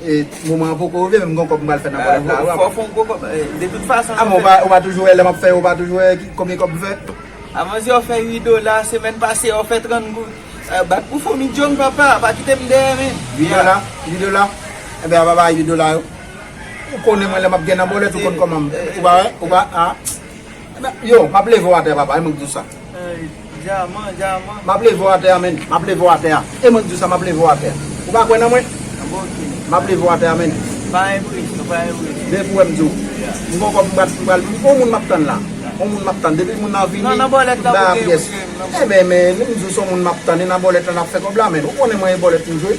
E moman an poko rive men m gon kòb m pral fè nan Pòdèf la. Fò w fè yon gwo kòb de tout fason. A mwen ou pa toujou wè lè map fè yo ou pa toujou wè konbyen kòb m fè. A manzè ou fè 8 dola semèn pase ou fè 30 goud. Bat pou fomi Jhong papa pa kite m dèyè men. 8 dola 8 dola Enben apa bay 8 dola yo. Ou konnen mwen lè map gen nan bòlèt ou konn kòman m ou pa wè ou pa a. Yo map leve w atè papa e mwen k di w sa. Dyaman, dyaman. M ap leve w atè a menn. M ap leve w atè a. E mwen k di w sa, m ap leve w atè a. Ou pa kwè nan mwen? M ap leve w atè a menn. Pa enpresyon, pa enpresyon. Men pou wè m di w. M gen yon kòb m pral, m pral. Yon moun m ap tann la. Yon moun m ap tann. Depi moun nan vini, tout bagay ap pyès. Nan, nan bòlèt la pou gen mouche m nan. Enben men, m di w se yon moun m ap tann. E nan bòlèt la n ap fè kòb la menn. Ou konnen mwen e bòlèt m jwe.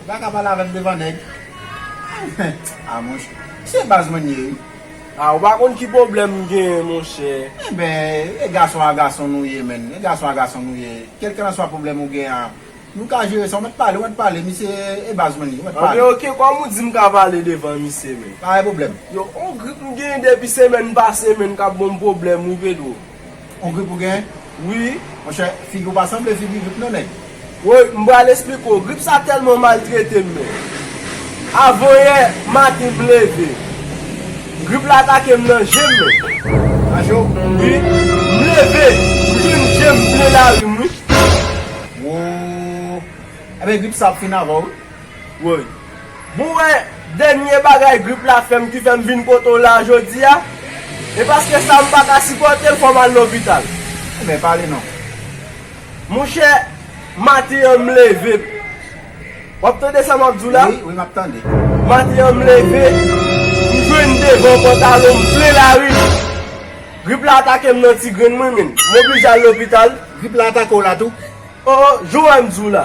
Ou pa ka pale avèm devan nèg. Ah monchè. Se baz mwen ye wi. Ah ou pa konn ki pwoblèm m genyen monchè. Enben, e gason a gason nou ye menn. E gason a gason nou ye. Kelkelanswa pwoblèm ou genyen an, nou ka jere sa. Ou mèt pale, ou mèt pale. Misye e baz mwen ye. Ou mèt pale. Anben ok, kòm ou di m ka pale devan misye menn. Pa gen pwoblèm. Yo, on grip m genyen depi semèn pase menn k ap bon m pwoblèm wi Pedro. On grip ou gen wi monchè figi ou pa sanble figi grip non nèg. Woy m pral esplike w grip sa tèlman maltrete m men avan yè maten m leve grip la atake m nan je m men. Nan je w? Wi m leve m jwenn je m ple lari m wi. Woo Ebyen grip sa ap fin avè w wi. Woy. Bon wè dènye bagay grip la fèm ki fèm vin kote w la a jodi a? E paske sa m pa ka sipòte l fò m al lopital. Ebyen pale non. Monchè, maten an m leve. W ap tande sa m ap di w la? Wi, wi m ap tande. Maten an m leve, m jwenn devan pantalon m plen lari. Grip la atake m nan ti grenn mwen menn. M oblije al lopital. Grip la atake w la tou? O o, jan w wè m di w la.